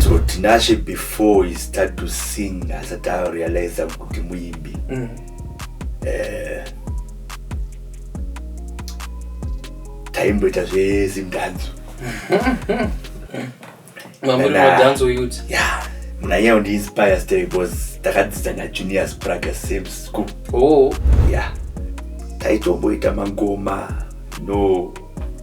so tinashe before he start to sing asati arealiza kuti muimbi mm. eh, taimboita zvezimdanzo muna iye undiinspire stay because takadzidza najunior spraga same school oh. ya yeah. taitomboita mangoma no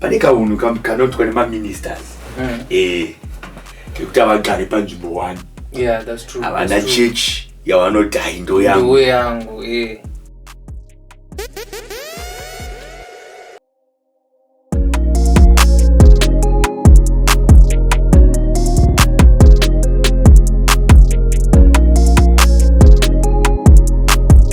pane kaunhu kam- kanoitwa nemaministers Mm. eh, kekuti havagare panzvimbo one yeah that's true havana That's true. chechi yavanoti hayi ndo yangu Ndiwe yangu eh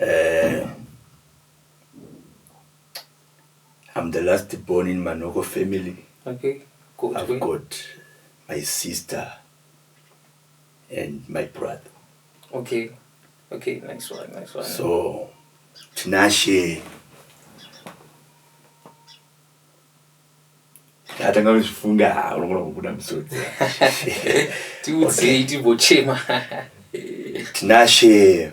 Eeh I'm the last born in Manoko family. Okay. Gotwe. I've got my sister and my brother. Okay. Okay, nice one, nice one. So Tinashe atanga kuzvifunga unogona kubuda musodzi tiudzei tigochema tinashe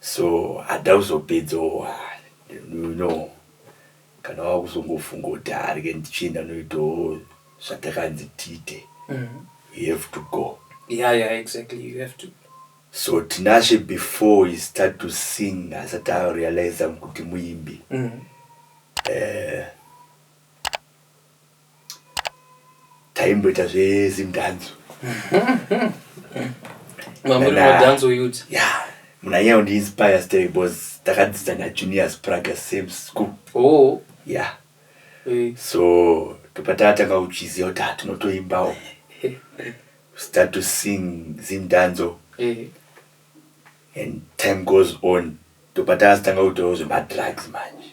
so hada kuzopedzawo you know kana wakuzongofunga kuti haa rege ndichienda noitawo zvatakanzi tiite mm. you have to go yeah, yeah, exactly. you have to so tinashe before he start to sing asati arealiza kuti muimbi mm. uh, taimboita zvezimdhanzo mamuri madhanzo yut ya muna nyaya undiinspire stay bcause takadzidza najunior spraga same school oh ya eh. so topatatanga uchiziva kuti hatinotoimbawo start to sing zimdhanzo eh. and time goes on topatatanga kutawo zvemadrugs manje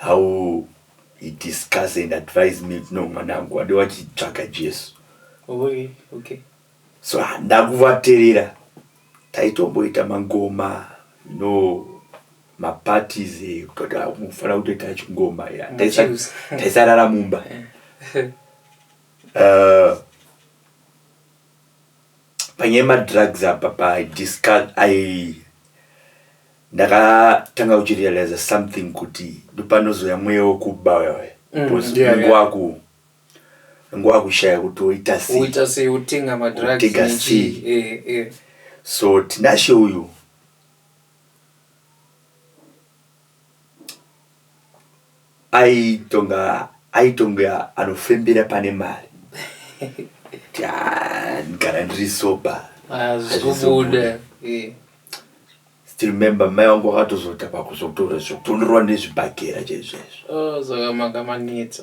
how he discuss and advise me kuti no mwanangu wade wachitsvaga Jesu Oye, okay. so ah, ndakuvaterera taitomboita mangoma you know maparties eh, kutoti ah, mufanira kutoita chingoma yeah. Taisa- Muchiusa. taisarara mumba uh, panyaya yemadrugs apa padiscus ai ndakatanga kuchirealiza something kuti ndopanozouya mweya wekuba uyawe Mm, because yeah, unenge yeah. waku unenge wakushaya kuti woita sei uita sei utenga madrugs Utenga nechii. sei. Eh, eh. so tinashe uyu Aitonga aitonge anofembera pane mari kuti haa ndigara ndiri sober hazvizobude eh. still remember mai wangu wakatozota pakuzotora zvekutonorwa nezvibhagera chaizvo izvo Oh, saka makamanetsa.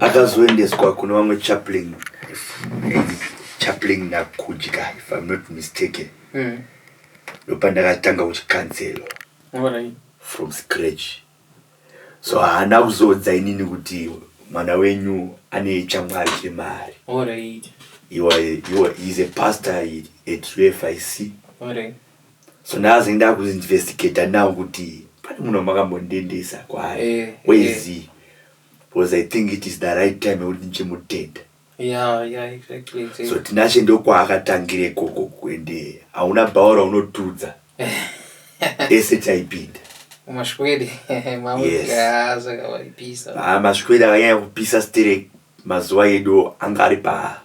akazoendeswa kune vamwe chaplain chaplain nakudya if i'm not mistaken mm. ndopandakatanga kuchikanzelwa from scratch so haana kuzoudza inini kuti mwana wenyu ane chamwari chemari he was, he was, he's a pastor at ufic Alright. so ndazi ndakuinvestigata now kuti pane munhu wamakambondiendesa kwaari eh, eh. wezi eh. because i think it is the right time yekuti ndichimutenda yeah, yeah, exactly, exactly. so tinashe ndokwaakatangire ikoko ende hauna bhawa raunotudza ese taipinda mashwede mashwede akanyanya kupisa stere mazuva edu anga ari pa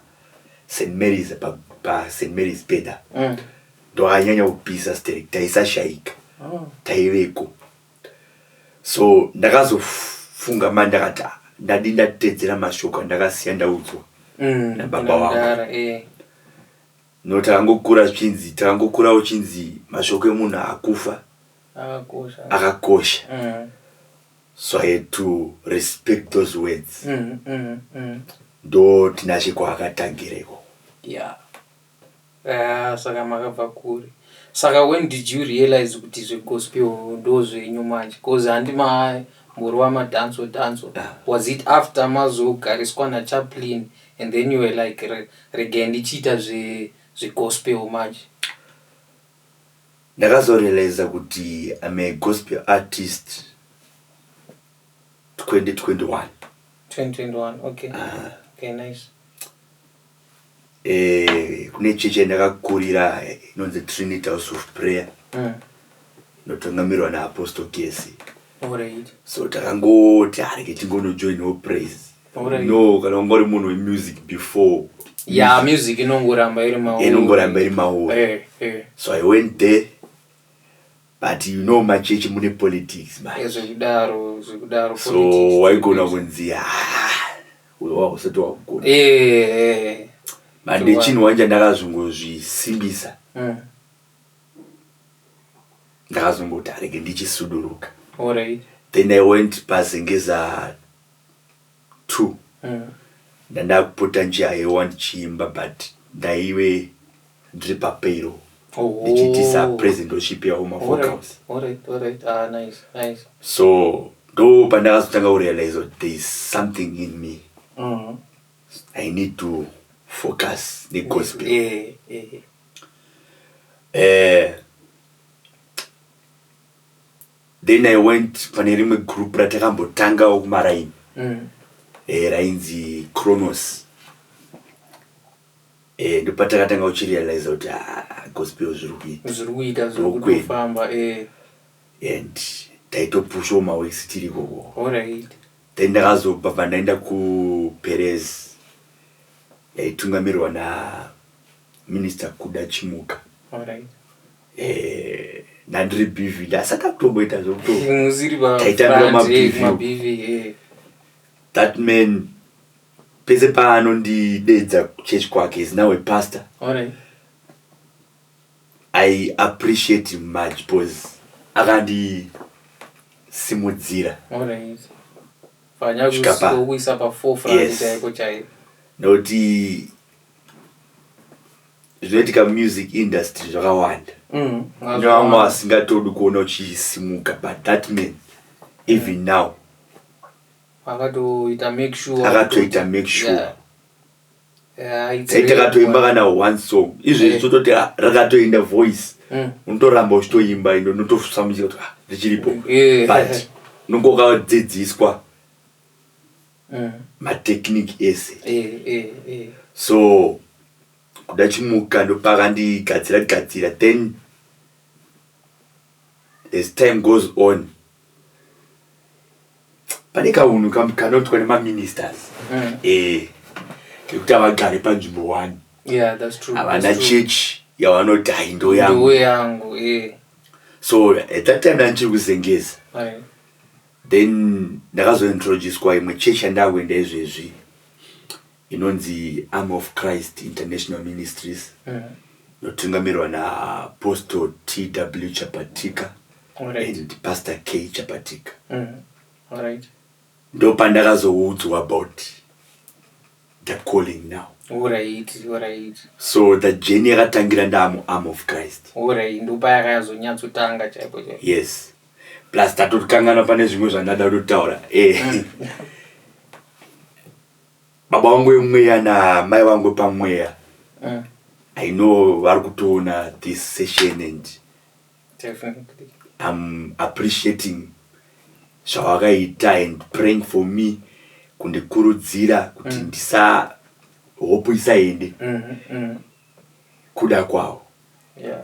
st marys pa, pa st marys peda mm. ndoanyanya kubhiza sterek taisashaika taiveko so ndakazofunga mai ndakati "Ah, ndadi ndatedzera mashoko andakasiya ndaudzwa Mm, Nababa wangu. mudhara, eh. no takangokura zvichinzi takangokura uchinzi mashoko emunhu akufa Akakosha. akakosha Mm, so i had to respect those words mm, mm, mm. ndo tinashe kwaakatangira ikoko Yeah. Ah, saka makabva kure saka when did you realize kuti zvegospel ndo zvenyu manje bcause handi mamborova madanso danso was it after mazogariswa nachaplin and then you were like regai ndichiita zvegospel manje ndakazorealiza kuti im a gospel artist 2021 2021 okay ah. okay nice Eh, kune chechi yandakakurira eh, inonzi trinity house of prayer Mm. inotungamirwa naapostle gesi Alright. so takangoti hareke tingonojoinawo praise Alright. no kana unga uri munhu wemusic before ya music inongoramba iri mauri inongoramba iri mauri Eh, eh. so i went there But you know machechi mune politics manje. Zvekudaro, zvekudaro. So waigona kunzi ah, wava usati wakugona. Eh. Mande chinhu wanja ndakazongozvisimbisa. Mm. Ndakazongoti arege ndichisuduruka. All right. Then I went pazengeza two ndandakupota ndichihaewa ndichiimba but ndaive ndiri papayroll Oh. ndichiitisa present ndochipewa mavocals Alright, alright. Ah, nice, nice. so ndo pandakazotanga kurealize kuti there is something in me Mm. i need to focus negospel Eh, eh. eh, then i went pane rimwe group ratakambotangawo kumaraini mm. eh, rainzi cronos eh, ndopatakatanga uchirealiza kuti ah, gospel zviri kuita zviri kuita zviri Ndokwenda. kutofamba eh and taitopushawo mawesi tiri ikoko alright then ndakazobva pandaenda kuperez yaitungamirirwa na Minister Kuda Chimuka. Alright. Eh, ndandiri BV ndasaka kutomboita zvekuto Musiri ba Taitambira front, ma eh, BV. ma BV, eh. that man pese paanondidedza kuchurch kwake is now a pastor. Alright. I appreciate him much because akandisimudzira Alright. Fanya Svika pa- kuisa pa forefront Yes. chaiko chaiko. nokuti zvinoitika mumusic industry zvakawanda Mm, kune vamwe vasingatodi kuona uchisimuka but that man even now akatoita make sure akatoita make sure Yeah. Yeah, it's dai takatoimba really kana one song izvezvi Eh. tototi ah, rakatoenda voice Mm. unotoramba uchitoimba ino unotosamuchira kuti ah, richiripo Yeah. but unonge wakadzidziswa mm. matechnic ese eh, eh, eh. so kuda chimuka ndopakandigadzira gadzira then as time goes on pane kaunhu kanotwa nemaministers mm. eh, kekuti havagare panzvimbo one havana chechi yavanoti hai ndo yangu eh. so at that time andichiri kuzengeza Then ndakazo introducwa imwe church yandakuenda izvezvi inonzi Army of Christ International Ministries inotungamirwa na Apostle TW Chapatika Alright. and Pastor K Chapatika. Mm. Alright. ndopandakazoudzwa about the calling now Alright, alright. so the journey yakatangira ndaamu arm of christ Alright, ndopaya yakazonyatsotanga chaipo chaipo. yes plus tatokanganwa pane zvimwe zvandada kutotaura eh. baba wangu wemweya namai wangu wepamweya Mm. i know vari kutoona this session and Definitely. I'm appreciating zvavakaita and praying for me kundikurudzira kuti Mm. ndisa hope isaende Mm, mm. kuda kwavo Yeah.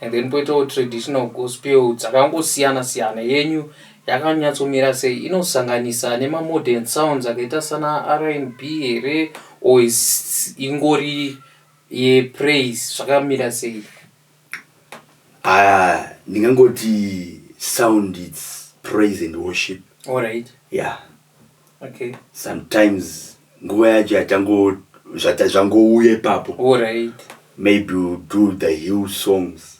and then poitawo traditional gospel dzakangosiyana siyana yenyu yakanyatsomira sei inosanganisa nemamodern sounds akaita sana rnb here or ingori yepraise zvakamira sei ah, ndingangoti sound its praise and worship allright yeah Okay. sometimes nguva yacho yachango zvata- zvangouya ipapo Alright. maybe we'll do the hill songs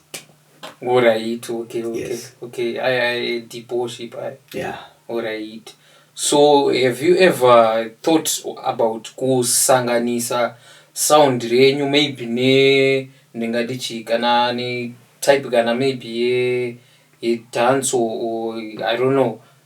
Alright. Okay. Okay. Yes. Okay. I, I, deep worship. I. yeah Alright. So have you ever thought about kusanganisa sound renyu maybe ne ndingati chii kana ne type kana maybe ye ye dance or, or I don't know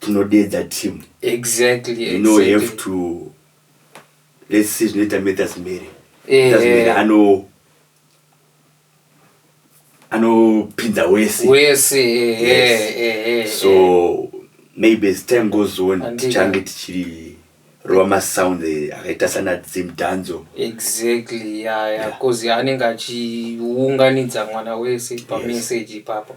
tinodeedza team exactly you know exactly. have to let's see zvinoita matters mary eh, matters mary eh. ano anopinza wese wese eh, yes. eh, eh, eh, so eh. maybe as time goes on tichange tichiri rova masound eh, akaita sana dzimdanzo exactly yaya yeah, yeah. cause anenge achiunganidza mwana wese pamessage yes. ipapo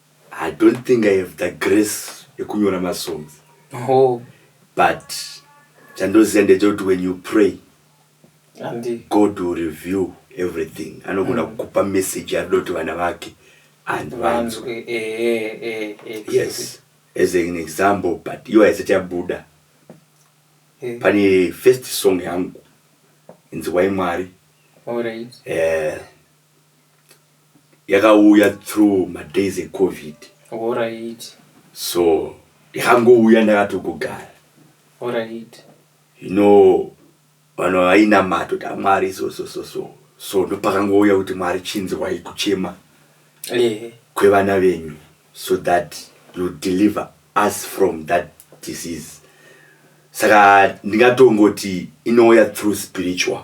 I don't think I have the grace yekunyora masongs oh. but chandoziva ndechekuti when you pray Andi. god will review everything anogona mm. kukupa message yaanoda kuti vana vake and vanzwe eh, eh, eh, eh, yes as an example but iwo haisati yabuda eh. pane first song yangu inzi wai mwari All right. eh, yakauya through madays ecovid Horaiti. so yakangouya ndakatogogara Horaiti. you know vanhu vainamata kuti amwari so so so so so ndopakangouya kuti mwari chinzwai kuchema Ehe. kwevana venyu so that you deliver us from that disease saka ndingatongoti inouya through spiritual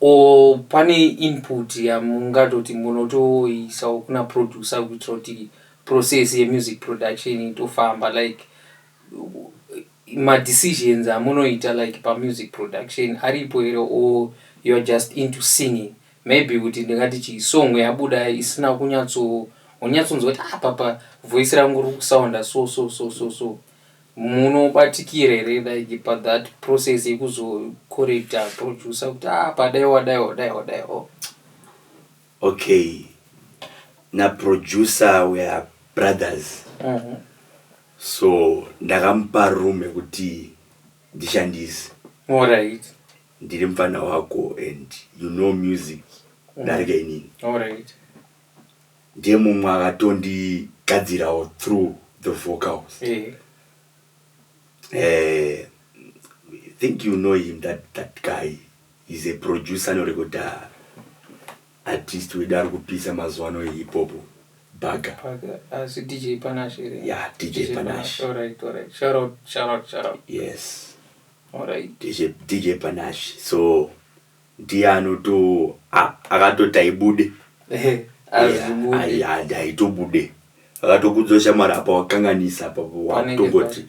Or pane input yamungatoti munotoisawo kuna producer kuitira kuti process ye music production itofamba like ma decisions amunoita like pa music production aripo here or you're just into singing maybe kuti ndingati chi song yabuda isina kunyatso wonyatsonzwa kuti ah apa pa voice rangu riri kusounda so so so so so Munobatikira here like pa that process yekuzo correcta producer kuti ah apa dai wadai wadai wadai or Okay na producer we are brothers Mhm. so ndakamupa room yekuti ndishandise Alright, ndiri mupfana wako and you know music darika inini alright. Ndiye mumwe akatondigadzirawo through the vocals. Ehe. Eh, I think you know him that, that guy. He's a producer anorekodha artist wedu ari kupisa mazuva ano hip hop bhaga. Paka asi DJ Panache here? Yeah, DJ Panache. Alright, alright. Shout out, shout out, shout out. Yes, Alright. DJ, DJ Panache. So ndiye anoto ah, akatoti haibude Eh, hazvibude. Hai- hai- haitobude akatokudzo shamwari apa wakanganisa apa Panenge wakutongoti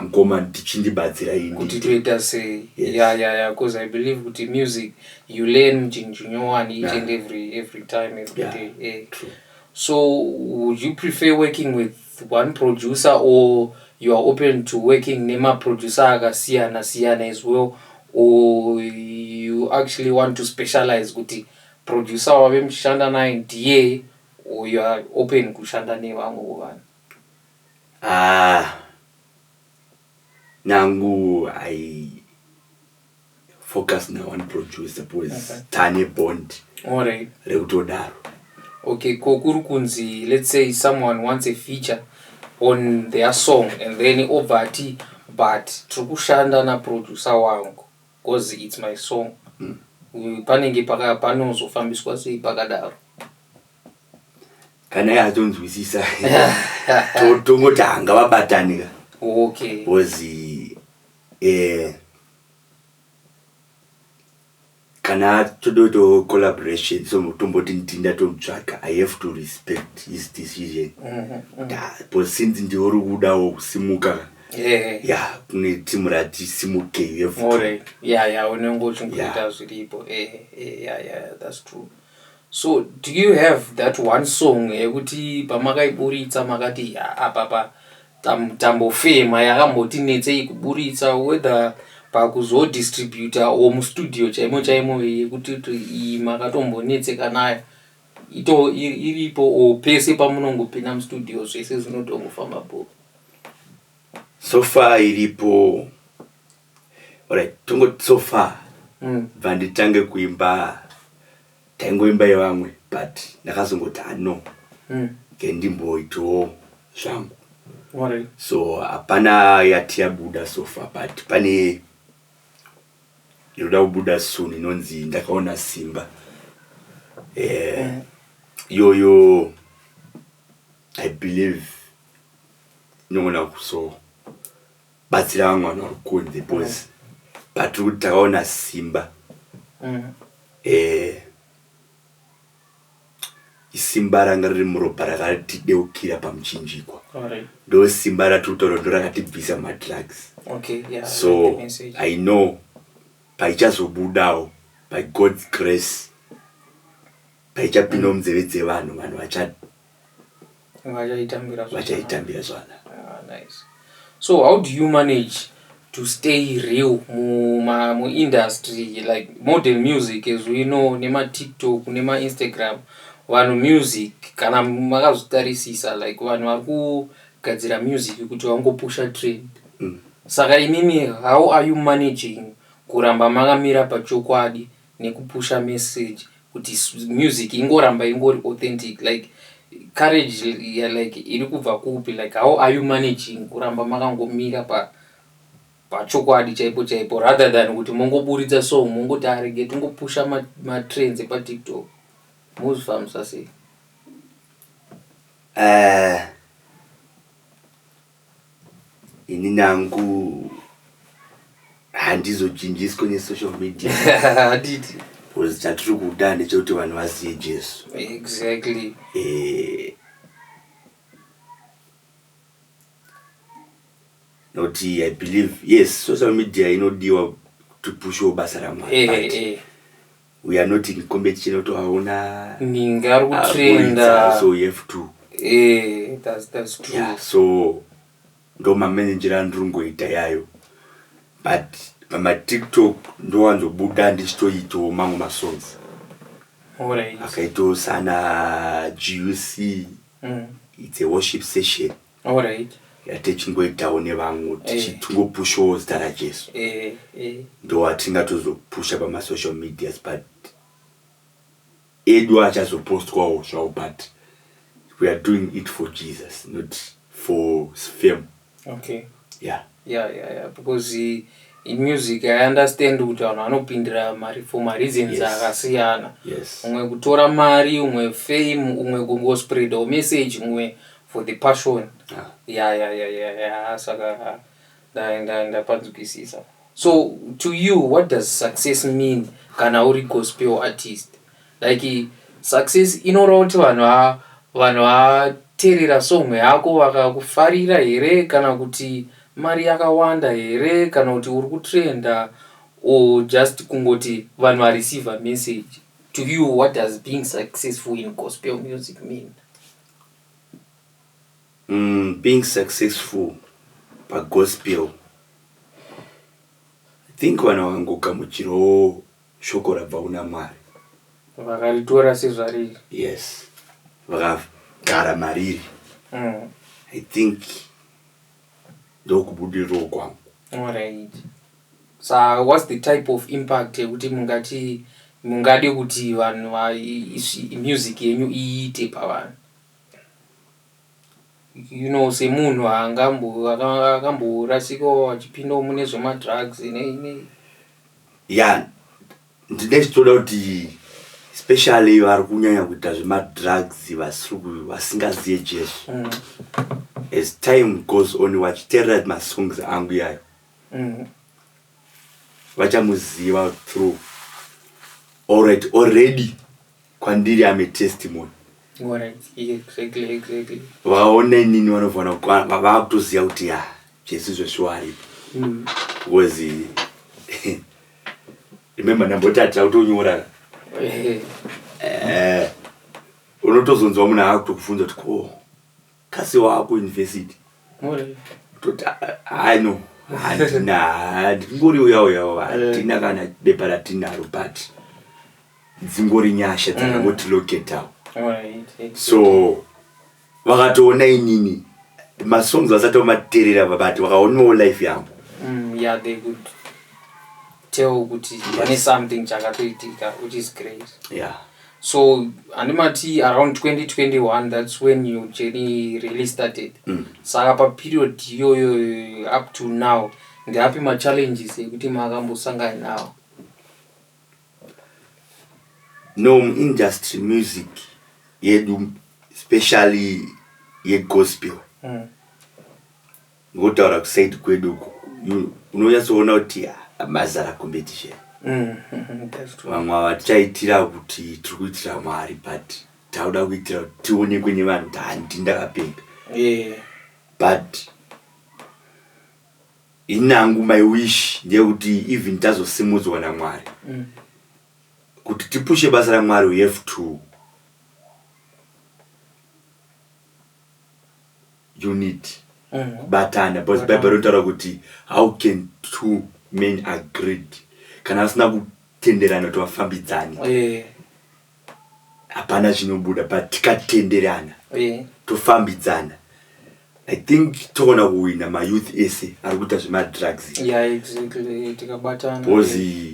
mkoma ndichindibatsira ini kuti toita sei Yes. ya ya ya because i believe kuti music you learn chinhu nyowani each Yeah. and every every time every Yeah. day eh. True. so would you prefer working with one producer or you are open to working nemaproducer akasiyana siyana as well or you actually want to specialize kuti producer wave muchishanda naye ndiye or you are open kushanda nevamwe vovanhu ah nangu i focus na one producer because mm -hmm. tane bond right. rekutodaro okay ko kuri kunzi let's say someone wants a feature on their song and then obva ati but tiri kushanda naproducer wangu because its my song mm. panenge panozofambiswa sei pakadaro kana iye atonzwisisa tongoti hanga vabatanira okay. Eeh kana toda kuita collaboration so tomboti ndini ndatomutsvaga i have to respect his decision but since ndiwe uri kudawo kusimuka Eh, ya kune team rati simuke you have to- more ya ya unenge uchingoita zviripo eh, eh, ya ya that's true so do you have that one song yekuti pamakaiburitsa makati "Ah, apa pa Tam, tambofema yakambotinetsei kuburitsa whether pakuzodistributa or mustudio chaimo chaimo yekuti iyi makatombonetseka nayo ito iripo or pese pamunongopinda mustudio zvese zvinotongofamba bho so far iripo orit tongoti so far bva mm. nditange kuimba taingoimba yevamwe but ndakazongoti ah no ke ndimboitawo zvangu so hapana yati yabuda sofa but pane inoda kubuda soon inonzi ndakaona simba eh, iyoyo yeah, yeah, i believe inogona kusowa batsira vamwe vanhu vari kunze bcause patiri kuti takaona simba mm. eh, isimba ranga riri muropa rakatideukira pamuchinjikwa ndo simba ratiri kutaura ndo rakatibvisa madrugs okay, yeah, so like i know paichazobudawo by god's grace paichapindawo mm. munzeve dzevanhu vanhu vachati vachaitambira vachaitambira zvakanaka ah, nice. so how do you manage to stay real muindustry mu like modern music as we know nematiktok nemainstagram vanhu music kana makazvitarisisa like vanhu vari kugadzira music kuti vangopusha trend mm. saka imimi how are you managing kuramba makamira pachokwadi nekupusha message kuti music ingoramba ingori authentic like courage ya like iri kubva kupi like how are you managing kuramba makangomira pa pachokwadi chaipo chaipo rather than kuti mongoburitsa song mongoti arege tingopusha matrends ma epatiktok mozvifambisa sei uh, inini hangu handizochinjiswe nesocial media handiti bcause chatiri kuda ndechekuti vanhu vazive jesu exactly eh, not i believe yes social media inodiwa to pushawo basa ramwari eh, eh, eh. we are not in competition otovaona ninga ari kutrenda so you have to eh that's that's true yeah so ndo mamenenjera andiri kungoita yayo but pamatiktok ndowanzobuda ndichitoitawo mamwe masongs akaitawo sana guc mm. its a worship session Alright. yatichingoitawo nevamwe Eh. tichingopushawo zita rajesu Eh, eh. ndowatingatozopusha pamasocial medias but edu achazopostwawo zvawo but we are doing it for jesus not for fame Okay. yeah Yeah yeah yeah because in music I understand kuti vanhu vanopindira mari for mareasons akasiyana. Yes. Umwe kutora mari, umwe fame, umwe kungospreadawo message, umwe for the passion. Ah. Yeah yeah yeah yeah yeah saka ndapanzwisisa. So to you what does success mean kana uri gospel artist? Like success inoreva kuti vanhu haa vanhu vateerera song yako vakakufarira here kana kuti mari yakawanda here kana kuti uri kutrenda or just kungoti vanhu vareceiver message to you what does being successful in gospel music mean mm, being successful pagospel i think vanhu vakangogamuchirawo Shoko rabva kuna Mwari. Vakaritora sezvariri. Yes. Vakagara mariri. Mm. I think ndokubudiriro kwangu. All right. So what's the type of impact yekuti mungati mungade kuti vanhu music yenyu iite pavanhu? you know semunhu akamborasikawo achipindawo mune zvemadrugs nei nei ya ndine zvitoda kuti especially vari kunyanya kuita zvemadrugs vasingazive jesu mm. as time goes on vachiteerera masongs angu yayo mm. vachamuziva through alright already kwandiri am a testimony vaona inini vanovana vakutoziva kuti ya jesu zveshuwa aripo mm. was remember ndambotati akutonyora eh, unotozonzwa munhu akutokufunza kuti ko kasi waku university toti hayi no handina handingori uya uya handina kana bepa ratinaro but dzingori nyasha mm. dzakangoti loketawo so vakatoona inini masongs vasati vamaterera vabati vakaonawo life yangu mm, tell kuti pane something chakatoitika which is great yeah so handimati around 2021 that's when your journey really started mm. saka paperiod iyoyo up to now ndeapi machallenges ekuti makambosangana nawo no muindustry music yedu especially yegospel mm. Ngotaura kuside kwedu uko unonyatsoona kuti mazara competition vamwe ava tichaitira kuti tiri kuitira mwari but tauda kuitira kuti tionekwe nevanhu kuti handi ndakapenga but inangu my wish ndeyekuti even tazosimudzwa namwari mm. kuti tipushe basa ramwari we have to unit mm. kubatana because bible rinotaura kuti how can two men agreed kana vasina kutenderana kuti vafambidzane eh. hapana yeah. chinobuda but tikatenderana yeah. tofambidzana i think toona kuwina mayouth ese ari kuita zvemadrugs yeah, exactly. tikabatana because yeah.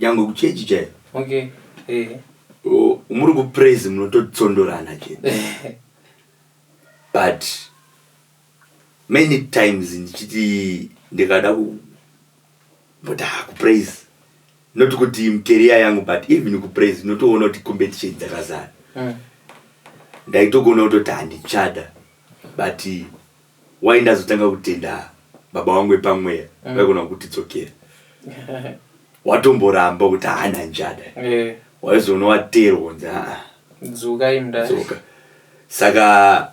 nyangwe kuchechi chaiko okay eh O, muri kupraise munototsondorana chete but many times ndichiti ndikada ku but ah, kupraise not kuti mkeria yangu but even kupraise unotoona kuti competition dzakazara mm. ndaitogona kutoti handichada but Why ndazotanga kutenda baba wangu epamweya mm. vaigona kutidzokera watomboramba kuti haana njada yeah. waizoona wateerwa kunzi aa dzuka imda dzuka saka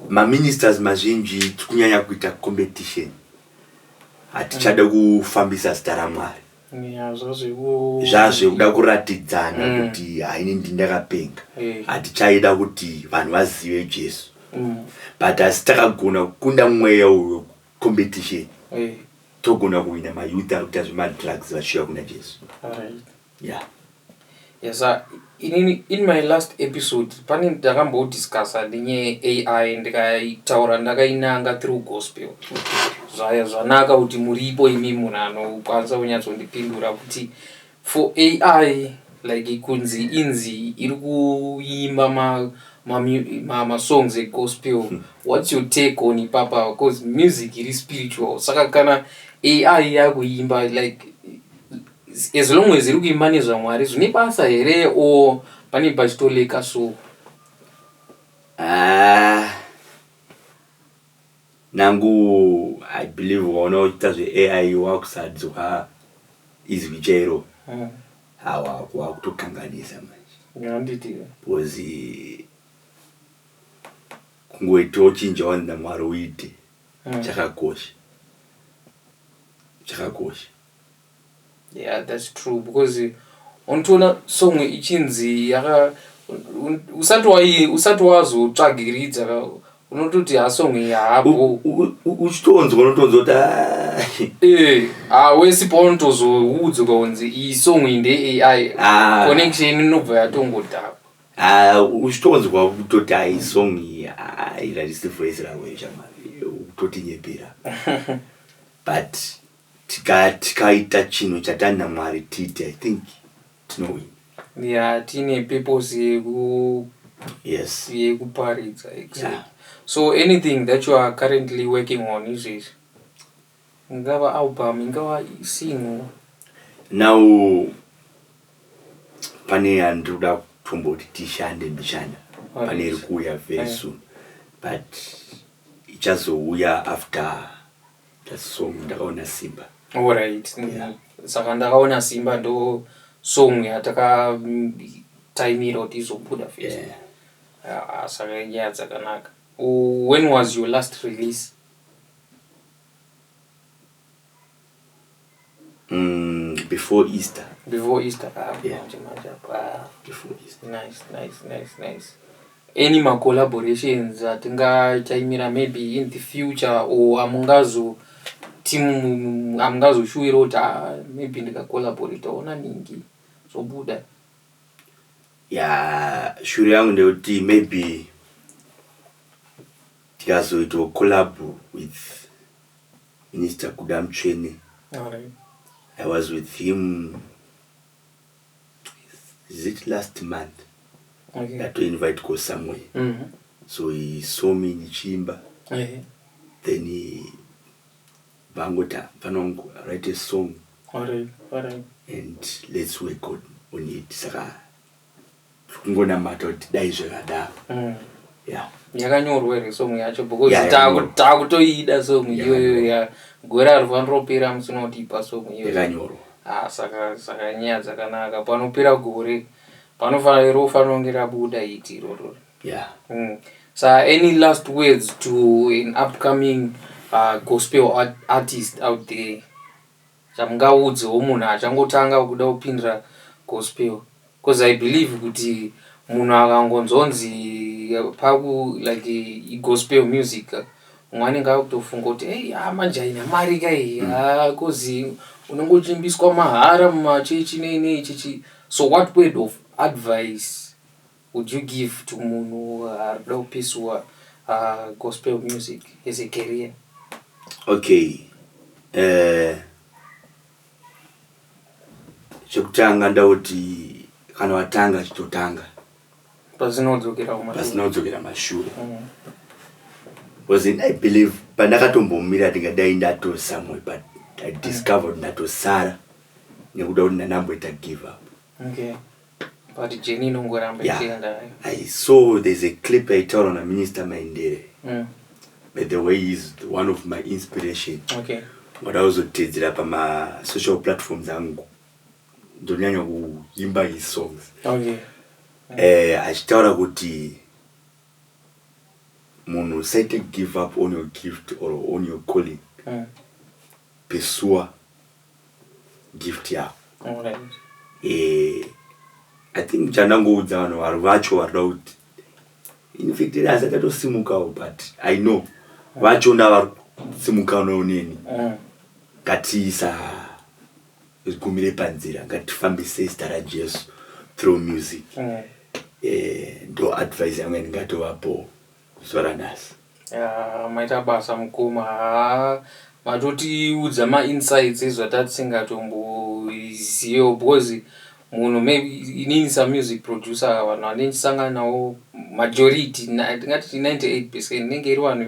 maministers mazhinji tikunyanya kuita competition hatichada mm. kufambisa zita ramwari zvazvekuda kuratidzana mm. kuti haini ndi ndakapenga eh. hatichaida kuti vanhu vazive jesu mm. but asi takagona kukunda mweya uyo competition eh. togona kuhwina mayouth ari kuita zvemadrugs vachiuya kuna jesu ya Yes sir inini in my last episode pane ndakambo discussa nenyaya ye AI ndikaitaura ndakainanga through gospel zvaya zvanaka kuti muripo imi munhu anokwanisa kunyatsondipindura kuti for AI like kunzi inzi iri kuimba ma masongs ma, ma egospel hmm. what's your take on ipapa because music iri spiritual saka kana ai yakuimba like As long as iri kuimba nezvaMwari zvine basa here or pane pachitoleka so. Ah. Nangu I believe waona uchiita zveAI wakusadzwa izwi chairo. Mm. Hawa wakutokanganisa manje. Handiti. Because eh, kungoita uchinja wani naMwari uite mm. chakakosha. Chakakosha. Yeah that's true because unotoona song ichinzi yaka usati wai usati wazotsvagiridza unototi hasong yaabo uchitonzwa unotonzwa kuti ah. eh, ah, wesi paunotozoudzwa kunzi iyi song iyi ndeai ah. connection inobva yatongodhakwa uchitonzwa kutoti ai song iyi irarisi voice ravo ishamari utotinyepera but Tikaya tikaita chinhu chatanda Mwari tiite I think tinowina. Yeah tine purpose yeku Yes. yekuparidza exactly. Yeah. So anything that you are currently working on izvezvi ingava album ingava single. Now pane yandiri kuda kutomboti tishande mbichana Alright. pane iri kuuya very Aye. soon but ichazouya after That's song ndakaona simba. Alright. Yeah. Saka ndakaona simba ndo song yataka mm, taimira kuti izobuda first. Yeah. Ah, ah, saka nyaya dzakanaka. Oh, When was your last release? Mm, before Easter. Before Easter. Ah, yeah. Manje, manje, ah. Before Easter. Nice, nice, nice, nice. Any ma collaborations atingachaimira maybe in the future or amungazo team amungazoshuwira kuti ah, maybe ndikacollaboratawo naningi zvobuda ya shuri yangu ndeyekuti maybe tikazoitawo collab with Minister Kuda Mutsvene I was with him is it last month ndato invitwa somewhere so he saw me ndichiimba then vangoti mfana wangu write a song and let's work on it saka kungonamata kuti dai zvakadaro mm. yeah. yakanyorwa here song yacho because yeah, takutoida song iyoyo ya gore ari vanoropera musina kuti ipa song iyoyo yakanyorwa ah, saka saka nyaya dzakanaka panopera gore panofanira rofanira kunge rabuda iti iroro yeah. mm. so any last words to an upcoming uh, gospel art artist out there Chamungaudzewo munhu achangotanga kuda kupindira gospel coz I believe kuti munhu akangonzonzi paku like igospel music umwe anenge akutofunga kuti hey haa manje haina mari ka iyi haa coz unenge uchiimbiswa mahara mumachechi nei nei chichi so what word of advice Would you give to munhu arikuda kupisuwa gospel music as a career? Okay eh chekutanga ndoda kuti kana watanga chitotanga Pasina kudzokera kumashure. pasina kudzokera mashure Mm. was in i believe pandakatombomira ndingadai ndatosamwe but i discovered ndatosara nekuda kuti ndandamboita give up Okay. but jeni inongoramba Yeah. ichienda hayo I saw there's a clip aitaura naMinister Maindere. Mm, By the way, he's one of my inspiration. okay Ngoda kuzotedzera pama social platforms angu. Ndonyanya kuimba his songs. okay Eh, achitaura kuti munhu usaite give up on your gift or on your calling. Mm, Pesua gift yavo eh, i think chandangoudza vanhu vari vacho varida kuti infact iri asati atosimukawo but i know vacho ndavari kusimukanawo neni mm. ngatiisa zigumire panzira ngatifambise zita rajesu through music mm. eh, ndo advise yangu yandingatovapowo zuva ranhasi Yaa, maita basa mukoma haa matotiudza mainsights ezvatatisingatomboziyewo because munhu maybe inini samusic producer vanhu vandichisangana nawo majority na- tingati 98 percent inenge iri vanhu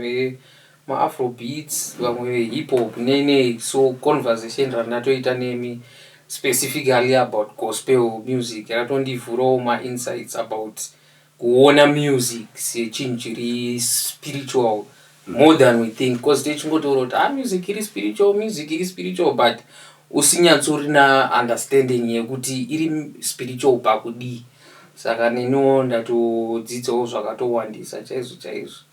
vemaafrobeats vamwe vehip hop nenei so conversation randatoita nemi specifically about gospel music ratondivhurawo mainsights about Kuona music sechinhu chiri spiritual more than we think because tichingotaura kuti ah music iri spiritual music iri spiritual but usinyatsorina understanding yekuti iri spiritual pakudii saka neniwo ndatodzidzawo zvakatowandisa chaizvo chaizvo.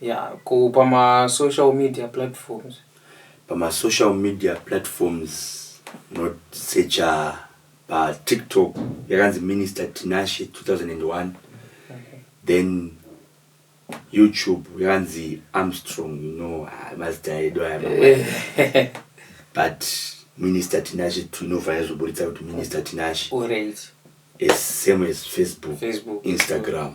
Yeah ko pama social media platforms. Pama social media platforms not secha pa tiktok yakanzi minister Tinashe 2001 then YouTube yakanzi Armstrong you know ah, mazita edu aya mangwana. but minister Tinashe tinofanira kuzoburitsa kuti minister Tinashe Alright. as same as Facebook, Facebook. Instagram.